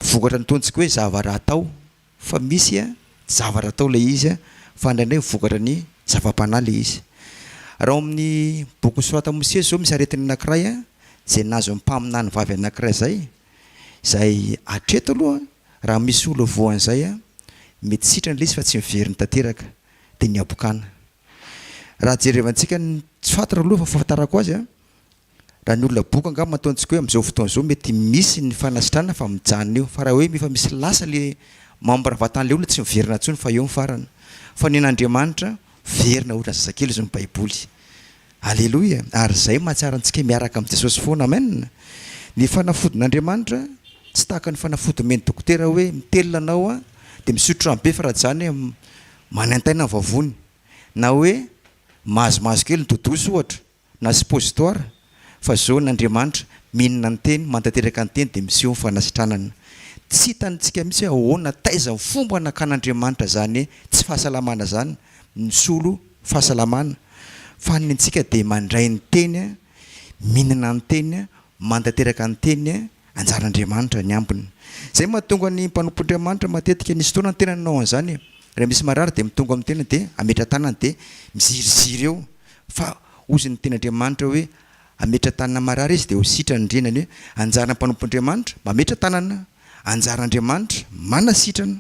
Vokatra ny tontsika hoe zavara atao fa misy a zavatra atao ilay izy a fa indraindray vokatra ny zava-panahy ilay izy raha ao amin'ny boky soratan Mosesy zao misy aretina anakiray a zay nahazo ny mpaminany vavy anakiray zay zay atreto aloha raha misy olona voa an'izay a mety sitrana ilay izy fa tsy miveriny tanteraka de ny habokana raha jerevantsika ny tsy fantatra aloha fa fahafantarako azy a Raha ny olona boko angamba ataontsika hoe amin'izao fotoana izao mety misy ny fanasitrana fa mijanona eo fa raha hoe efa misy lasa le membre vatan'ilay olona tsy miverina intsony fa eo ny farany fa ny an'Andriamanitra miverina hoy ny zazakely hoy ny baiboly aleloia ary izay mahatsara antsika miaraka amin'i Jesosy foana amen ny fanafodin'Andriamanitra tsy tahaka ny fanafody omen'ny dokotera hoe mitelina anao an dia misotro rano be fa raha tsy izany manaintaina ny vavony na hoe mahazomahazo kely ny dodos ohatra na suppositoire, fa zona Andriamanitra, minina ny teny, manatanteraka ny teny dia miseho ny fanasitranana. Tsy hitantsika mihitsy hoe ahoana, taiza ny fomba nakan'Andriamanitra zany tsy fahasalamana zany, misolo fahasalamana, fa ny antsika dia mandray ny teny, minina ny teny, manatanteraka ny teny, Anjaran'Andriamanitra ny ambiny. Izay mahatonga ny mpanompon'Andriamanitra matetika misy fotoana ny tenany manao an'izany e. Raha misy marary dia mitonga amin'ny tenany dia ametra-tanana dia miziriziry eo fa hozy ny tenin'Andriamanitra hoe ametra-tanana marary izy dia ho sitrany ny renany hoe anjaran'ny mpanompon'Andriamanitra mametra-tanana, anjaran'Andriamanitra manasitrana.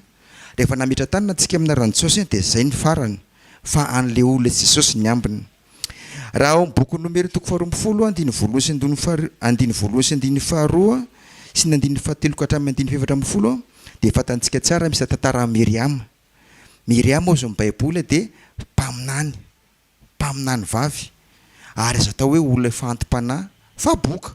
Rehefa nametra-tanana tsika amina ran'i Jesosy dia izay ny farany fa an'ilay olona Jesosy ny ambiny. Raha ao amin'ny bokin'ny Nomera toko faharoa ambin'ny folo, andininy voalohany sy andininy faharoa, andininy voalohany sy andininy faharoa sy ny andininy fahatelo ka hatramin'ny andininy fahefatra ambin'ny folo dia fantantsika tsara misy tantara an'i Miriama. Miriama ao izao ny Baiboly dia mpaminany, mpaminany vavy ary azo atao hoe olona efa anti-panahy fa boka.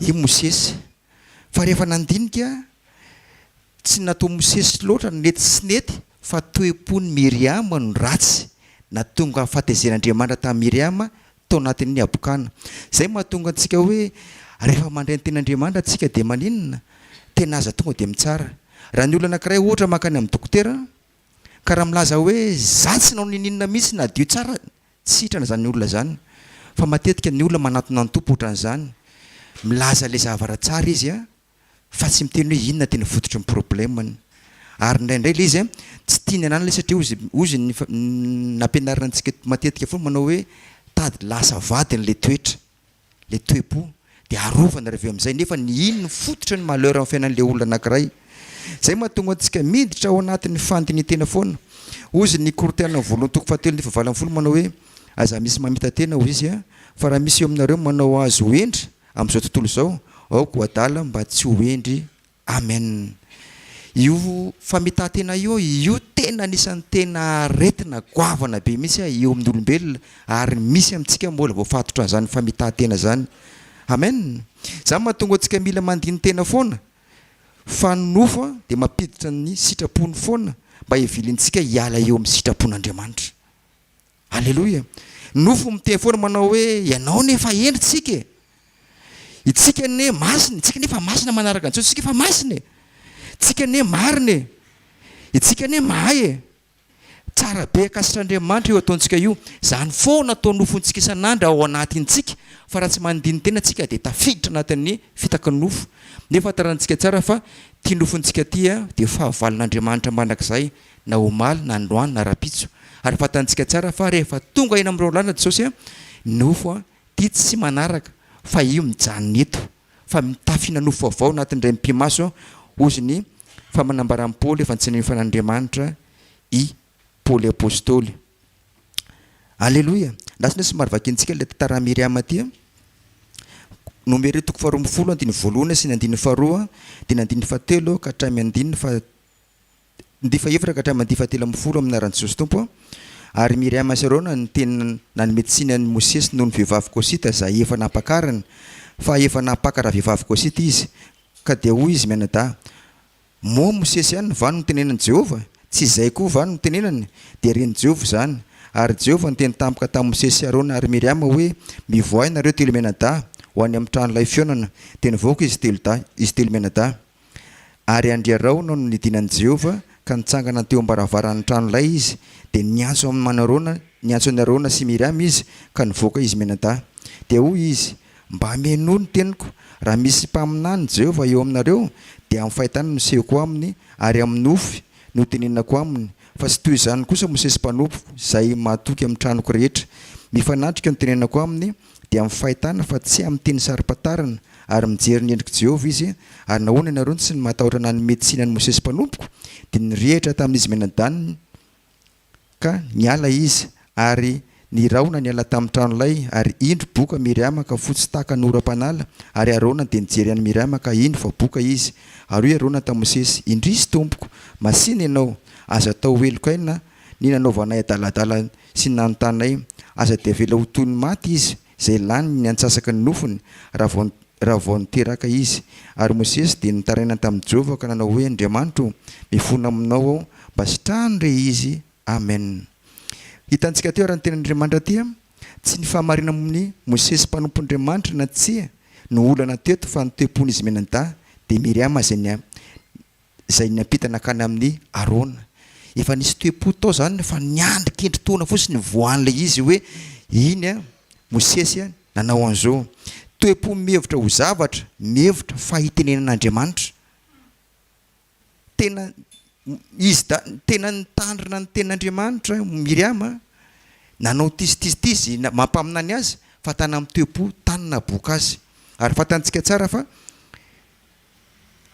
i Mosesy. Fa rehefa nandinika, tsy natoa Mosesy loatra ny nety sy nety fa toe-pon'i Miriama no ratsy, nahatonga fahatezen'Andriamanitra tamin'i Miriama tao anatin'ny habokana. Izay mahatonga antsika hoe rehefa mandray ny tenin'Andriamanitra tsika dia maninona? Tena aza tonga dia mitsara. Raha ny olona anankiray ohatra mankany amin'ny dokotera ka raha milaza hoe za tsy nanao n'ininona mihitsy nadio tsara Tsy sitrana izany olona izany fa matetika ny olona manatona ny Tompo ohatran'izany, milaza ilay zavatra tsara izy a, fa tsy miteny hoe inona tena fototry ny problème-ny. Ary indraindray ilay izy a, tsy tia ny ananany ilay satria hozy, hozy ny nampianarina antsika matetika foana manao hoe tady lasa vadiny ilay toetra. le toe-po de arovana reveo amizay nefa ny inn no fototra ny malheur am fiainan le olona anakiray zay mahatonga antsika miditra ao anatin ny fandinitena foana ozy ny korten ny voalohan-toko fahatelo ny fahavalo ambin'ny folo manao hoe aza misy mamitatena ozy izy a fa raha misy eo aminareo manao azy ho hendry amizao tontolo izao aoka ho adala mba tsy ho hendry Amen io famitahantena io io tena anisany tena aretina goavana be mihitsy a eo amin'ny olombelona ary misy amintsika mbola voafatotra an'izany famitahantena zany amen zany mahatonga antsika mila mandinitena foana fa ny nofo a dia mampiditra ny sitrapony foana mba hivilintsika hiala eo amin'ny sitrapon'Andriamanitra Aleloia! Nofo miteny foana manao hoe ianao anie efa hendry tsika e! Itsika anie masina e! Tsika anie efa masina manaraka an'i Jesosy tsika efa masina e! Tsika anie marina e! Itsika anie mahay e! Tsara be ankasitra Andriamanitra io ataontsika io, zany foana atao nofontsika isan'andro ao anatintsika fa raha tsy mandinintena tsika dia tafiditra anatin'ny fitaky nofo, nefa tarantsika tsara fa ty nofontsika ty dia fahavalon'Andriamanitra mandrakizay. na omaly na androany na rapitso ary fantantsika tsara fa rehefa tonga eny amin'ireo lalana Jesosy a ny nofo a tia tsy manaraka fa io mijanona eto fa mitafina nofo vaovao anatin'irey mipi-maso hozy ny fa manambaran'i Paoly efa tsy ninofa an'Andriamanitra i Paoly apostoly Aleloia na tsy somary vakintsika ilay tantaran'i Miriama ity a Nomery toko faharoa ambin'ny folo andininy voalohany sy ny andininy faharoa dia ny andininy fahatelo ka hatramin'ny andininy faha Mandifa efatra ka hatramin'ny mandifa telo ambin'ny folo amin'ny anaran'i Jesosy Tompo aho, ary Miriama sy Arona ny teny nanome tsiny an'i Mosesy noho ny vehivavy Kosita izay efa nampakariny, fa efa nampaka ravehivavy Kosita izy. Ka dia hoy izy mianadahy, Moa Mosesy ihany va no notenenan'i Jehovah? Tsy izay koa va no notenenany? Dia ren'i Jehovah izany. Ary Jehovah niteny tampoka tamin'i Mosesy sy Arona ary Miriama hoe, Mivoaha ianareo telo mianadahy ho any amin'ny tranolay fihaonana. Dia nivoaka izy telo dahy, izy telo mianadahy. Ary andry Araona no nidina an'i Jehovah, ka nitsangana teo am-baravaran'ny tranolay izy, dia niantso an'i Araona, niantso an'i Araona sy Miriama izy, ka nivoaka izy mianadahy. Dia hoy izy, Mba menoa ny teniko, raha misy mpaminany Jehovah eo aminareo, dia amin'ny fahitana no nisehoko aminy, ary amin'ny nofy no itenenako aminy, fa tsy toy izany kosa Mosesy mpanompoko, izay mahatoky amin'ny tranoko rehetra. Mifanatrika no itenenako aminy, dia amin'ny fahitana fa tsy amin'ny teny saro-pantarina ary mijery ny endrik'i Jehovah izy, ary nahoana ianareo no tsy ny matahotra nanome tsiny an'i Mosesy mpanompoko? Dia nirehitra tamin'izy mianadahy ka niala izy, ary ny rahona niala tamin'ny trano lay, ary indro boka Miriama ka fotsy tahaka ny oram-panala, ary Arona dia nijery an'i Miriama ka indro fa boka izy, ary hoy Arona tamin'i Mosesy, indrisy tompoko, masìna ianao, aza atao ho heloka aina ny nanaovanay adaladala sy ny nanontananay, Aza dia avela ho toy ny maty izy, izay lany ny antsasaka ny nofony, raha vao, raha vao niteraka izy. Ary Mosesy dia nitaraina tamin'i Jehovah ka nanao hoe, Andriamanitra o, mifona aminao aho, mba sitrano re izy. Amen. Hitantsika teo ary ny Tenin'Andriamanitra tia, tsy ny fahamarinana momba an'i Mosesy mpanompon'Andriamanitra na tsia no olana teto fa ny toe-pon'izy mianadahy, dia Miriama izay izay niampita nankany amin'i Arona. Efa nisy toe-po tao izany fa niandry kendri-taona fotsiny nivoahan' ilay izy hoe iny Mosesy nanao an'izao. Toe-po mihevitra ho zavatra, mihevitra fa hitenenana Andriamanitra. Tena izy da tena nitandrina ny tenin'Andriamanitra Miriama, nanao tizitizitizy mampaminany azy fa tany amin'ny toe-po tany naboaka azy. Ary fantantsika tsara fa.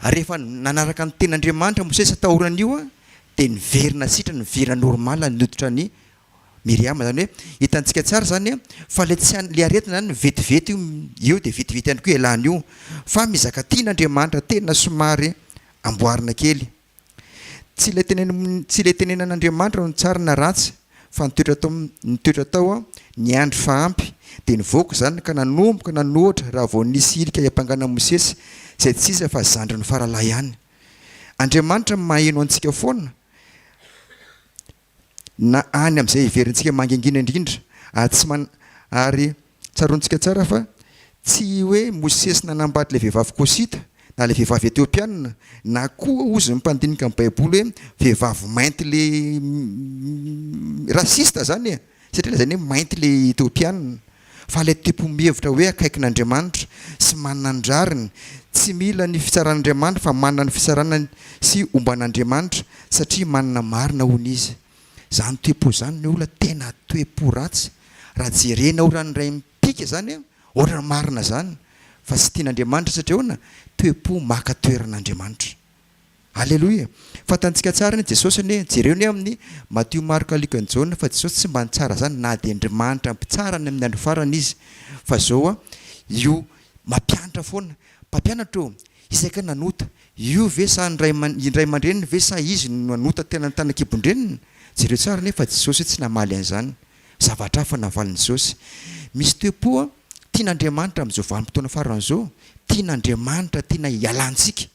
Ary rehefa nanaraka ny tenin'Andriamanitra Mosesy taoran'io dia niverina sitrany niverina normal ny hoditra an'i Miriama zany hoe hitantsika tsara zany fa le tsy le aretina zany vetivety io eo dia vetivety ihany koa ialany io fa mizaka tian'Andriamanitra tena somary amboarina kely Tsy ilay tenen tsy ilay tenenan'Andriamanitra no tsara na ratsy fa ny toetra tao ny toetra tao aho niandry fa ampy dia nivoaka izany ka nanomboka nanoatra raha vao nisy hirika hiampangana an'i Mosesy izay tsy iza fa zandriny faralahy ihany. Andriamanitra maheno antsika foana na any amin'izay heverintsika mangingina indrindra, ary tsy man ary tsaroantsika tsara fa tsy i hoe Mosesy nanambady ilay vehivavy kosita, na ilay vehivavy etiopianina, na koa hozy ny mpandinika ny baiboly hoe vehivavy mainty ilay rasista zany e, satria lazainy hoe mainty ilay etiopianina. Fa ilay tipo mihevitra hoe akaikin'Andriamanitra sy manana ny rariny, tsy mila ny fitsaran'Andriamanitra fa manana ny fitsarana sy omban'Andriamanitra satria manana marina hono izy. Zany toe-po zany ny olona tena toe-po ratsy raha jerena ohatrany iray mipika zany a ohatrany marina zany fa tsy tian'Andriamanitra satria ahoana toe-po maka toeran'Andriamanitra. Aleloia! Fantantsika tsara an i Jesosy anie, jereo anie amin ny Matio, Marka, Luka, ny Jaona fa Jesosy tsy mba nitsara zany na dia Andrimanitra mpitsara any amin ny andro farany izy fa zao an io mampianatra foana, mpampianatra ô! Isaka nanota, io ve sa ny ray ray aman-dreniny ve sa izy no nanota tena tany ankibon-dreniny? Jereo tsara anie fa Jesosy tsy namaly an izany, zavatra hafa navalin Jesosy. Misy toe po an, tian Andriamanitra amin izao vanim-potoana farany izao, tian Andriamanitra tena hialantsika.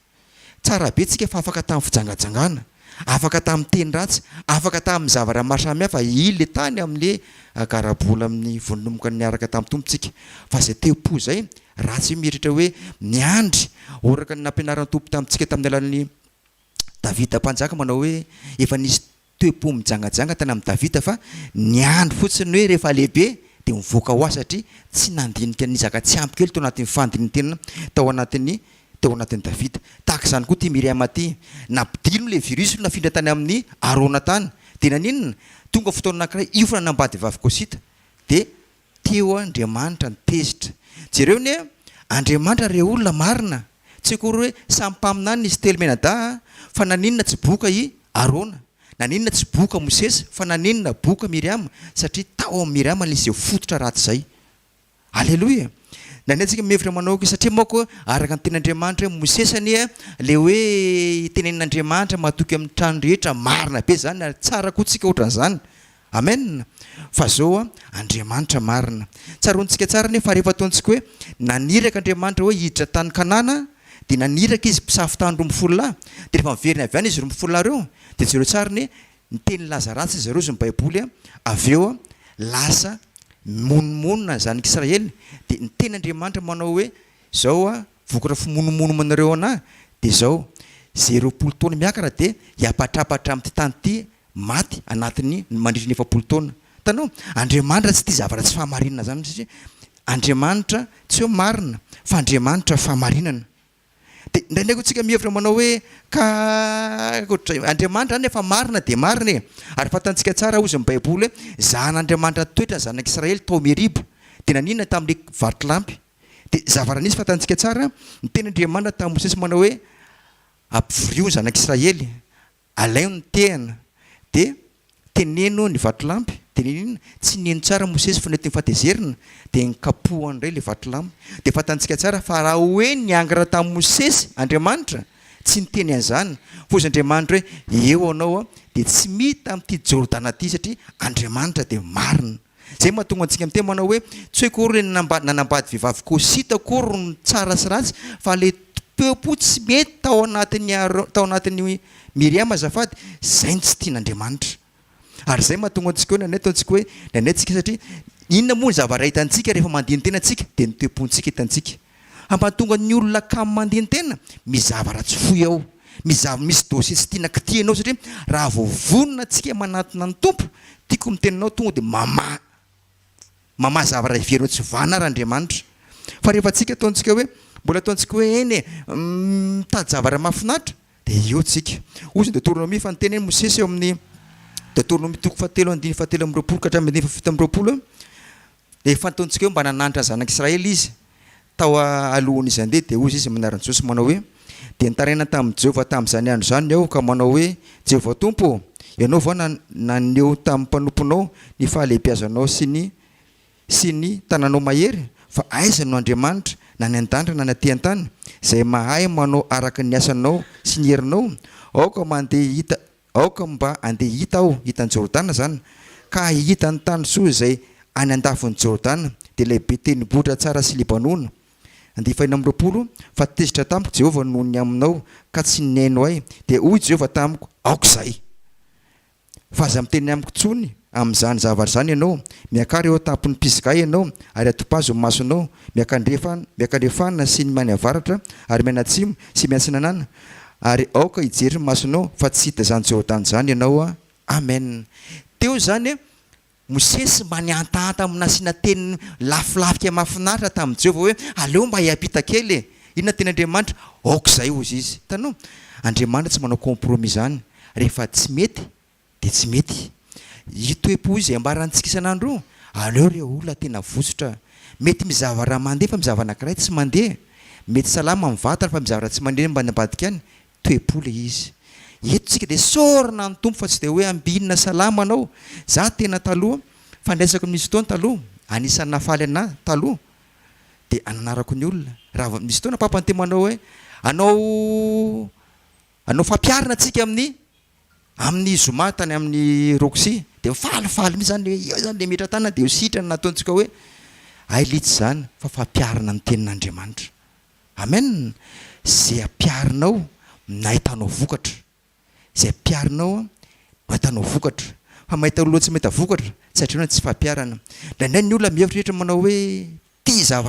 Tsara be tsika fa afaka tamin'ny fijangajangana, afaka tamin'ny teny ratsy, afaka tamin'ny zavatra maro samihafa i le tany amin'ny le garabola amin'ny vonomoka niaraka tamin'ny Tompo tsika. Fa zay te-po zay ratsy io mieritreritra hoe miandry oraka ny nampianaran'ny Tompo tamintsika tamin'ny alalan'ny Davida mpanjaka manao hoe efa nisy toe-po mijangajanga tany amin'i Davida fa niandry fotsiny hoe rehefa lehibe dia mivoaka ho ahy satria tsy nandinika ny nizaka tsy ampy kely tao anatin'ny fandinin-tenana tao anatin'ny tao anatin'i Davida. Tahaka izany koa ity Miriama ity. Nampidiriny ilay virus no nafindra tany amin'i Arona tany. Dia naninona? Tonga fotoana anankiray hiofana ny ambadivavy Kosita dia Teo Andriamanitra ny tezitra. Jereo anie Andriamanitra re olona marina, tsy akory hoe samy mpaminany izy telo mianadahy a, fa naninona tsy boka i Arona, naninona tsy boka Mosesy, fa naninona boka Miriama, satria tao amin'i Miriama nisy izay fototra ratsy izay. Aleloia! Nania antsika mihevitra manao aoka, satria manko araka ny tenin'Andriamanitra hoe Mosesy anie a, le hoe tenenin'Andriamanitra matoky amin'ny trano rehetra, marina be izany ary tsara koa tsika otran'izany. Amen fa zao a Andriamanitra marina. Tsaroantsika tsara anie fa rehefa ataontsika hoe naniraka Andriamanitra hoe hiditra tany Kanana dia naniraka izy mpisafo tany roa amby folo lahy dia rehefa miverina avy any izy roa amby folo lahy reo dia jereo tsara anie ny teny laza ratsy izy zareo zao ny baiboly a avy eo a lasa mimonomonona zanaky Israely dia ny teny Andriamanitra manao hoe zao a vokatra fimonomonomanareo anah dia zao ze roapolo taona miakara dia hiapatrapatra amty tany ty maty anatin'ny mandritry ny efapolo taona. Hitanao? Andriamanitra tsy tia zava-ratsy fahamarinana izany satria Andriamanitra tsy hoe marina fa Andriamanitra fahamarinana. Dia indraindray koa tsika mihevitra manao hoe ka ohatr'izay Andriamanitra izany efa marina dia marina e! Ary fantantsika tsara ozy ny baiboly hoe zahan'Andriamanitra toetra ny zanak'Israely tao Meriba dia naninona tamin'ilay vatolampy? Dia zavara nisy fantantsika tsara niteny Andriamanitra tamin'i Mosesy manao hoe ampivorio ny zanak'Israely Alaio ny tehana, dia teneno ny vatolampy, dia niniana, tsy nino tsara Mosesy fa nentiny fahatezerina, dia nikapohany indray ilay vatolampy. Dia fantantsika tsara fa raha hoe niangatra tamin'i Mosesy Andriamanitra, tsy niteny an'izany, fa hozy Andriamanitra hoe, Eo anao aho, dia tsy mita amin'ity Jordana ity, satria Andriamanitra dia marina. Izay no mahatonga antsika miteny manao hoe, tsy hoe akory ilay nanambady vehivavy Koshita akory no tsara sy ratsy fa ilay toe-po tsy mety tao anatin'i Aaron, tao anatin'i Miriama azafady, izay no tsy tian'Andriamanitra. Ary izay no mahatonga antsika hoe, indraindray ataontsika hoe, indraindray tsika satria, inona moa ny zavatra hitantsika rehefa mandini-tena tsika? Dia ny toe-pontsika hitantsika. Hampatonga ny olona kamo mandeha ny tena, misy zavatra tsy foy ao, misy zava misy dossier tsy tiana kitihanao satria raha vao vonona antsika manatona ny Tompo, tiako miteny anao tonga dia mamaha mamaha zavatra heverinao tsy vanona ary Andriamanitra. Fa rehefa antsika ataontsika hoe mbola ataontsika hoe eny e, mitady zavatra mahafinaritra dia eo tsika. Hoy izany Deotoronomia fa niteny hoe Mosesy eo amin'ny Deotoronomia toko fahatelo andininy fahatelo amby roapolo ka hatramin'ny andininy fahafito amby roapolo hoe, Dia fantatsika hoe mba nananatra ny zanak'i Israely izy tao alohan'izy handeha, dia hoy izy mianaran'i Jesosy manao hoe, Dia nitaraina tamin'i Jehovah tamin'izany andro izany aho, ka manao hoe, Jehovah Tompo ô, ianao va naneho tamin'ny mpanomponao ny fahalehibiazanao sy ny sy ny tananao mahery? Fa aiza no Andriamanitra, na any an-danitra na any aty an-tany, izay mahay manao araka ny asanao sy ny herinao? Aoka mandeha hita Aoka mba handeha hita aho hitan'i Jordana zany ka hahita ny tany soa izay any andafin'i Jordana, dia ilay be tendrombohitra tsara sy Libanona. Andiany fahiny amby roapolo, Fa tezitra tamiko Jehovah noho ny aminao, ka tsy nihaino ahy. Dia hoy Jehovah tamiko, Aoka izay! Fa aza miteny amiko intsony amin'izany zavatra izany ianao. Miakara eo an-tampon'ny mpizigahy ianao, ary atompazo ny masonao, miakandrefana sy ny mianiavaratra, ary mianatsimo sy miatsinanana, ary aoka hijery ny masonao fa tsy hita izany Jordana izany ianao. Amen. Teo izany e, Mosesy mba nihantahanta amin'ny nasiana teny lafolafika mahafinaritra tamin'i Jehovah hoe, Aleo mba hiampita kely e. Inona no teny Andriamanitra? Aok'izay, hozy izy. Hitanao? Andriamanitra tsy manao compromis izany. Rehefa tsy mety, Dia tsy mety. Io toe-po io izay ambarantsika isan'andro io, aleo re olona tena votsotra. Mety mizava raha mandeha fa mizava anankiray tsy mandeha. Mety salama amin'ny vatana fa mizava raha tsy mandeha ambany ambadika any. Toe-po ilay izy. Eto isika dia isaorana an'ny Tompo fa tsy dia hoe ambinina salama anao. Izaho tena taloha, fandraisako ny misy fotoana taloha, anisan'ny nahafaly an'ahy taloha dia ananarako ny olona. Raha misy fotoana Papa no te manao hoe hanao hanao fampiharina antsika amin'ny Amin'ny zoma tany amin'ny Roxy dia falifaly mihitsy zany hoe eo zany le metra tanana dia eo sitrana nataontsika hoe ay litsy zany fa fampiharina ny tenin'Andriamanitra amen ze ampiharinao no ahitanao vokatra ze ampiharinao no ahitanao vokatra fa mahita olona tsy mahita vokatra tsy adino ny tsy fahampiharana indraindray ny olona mihevitra manao hoe ity za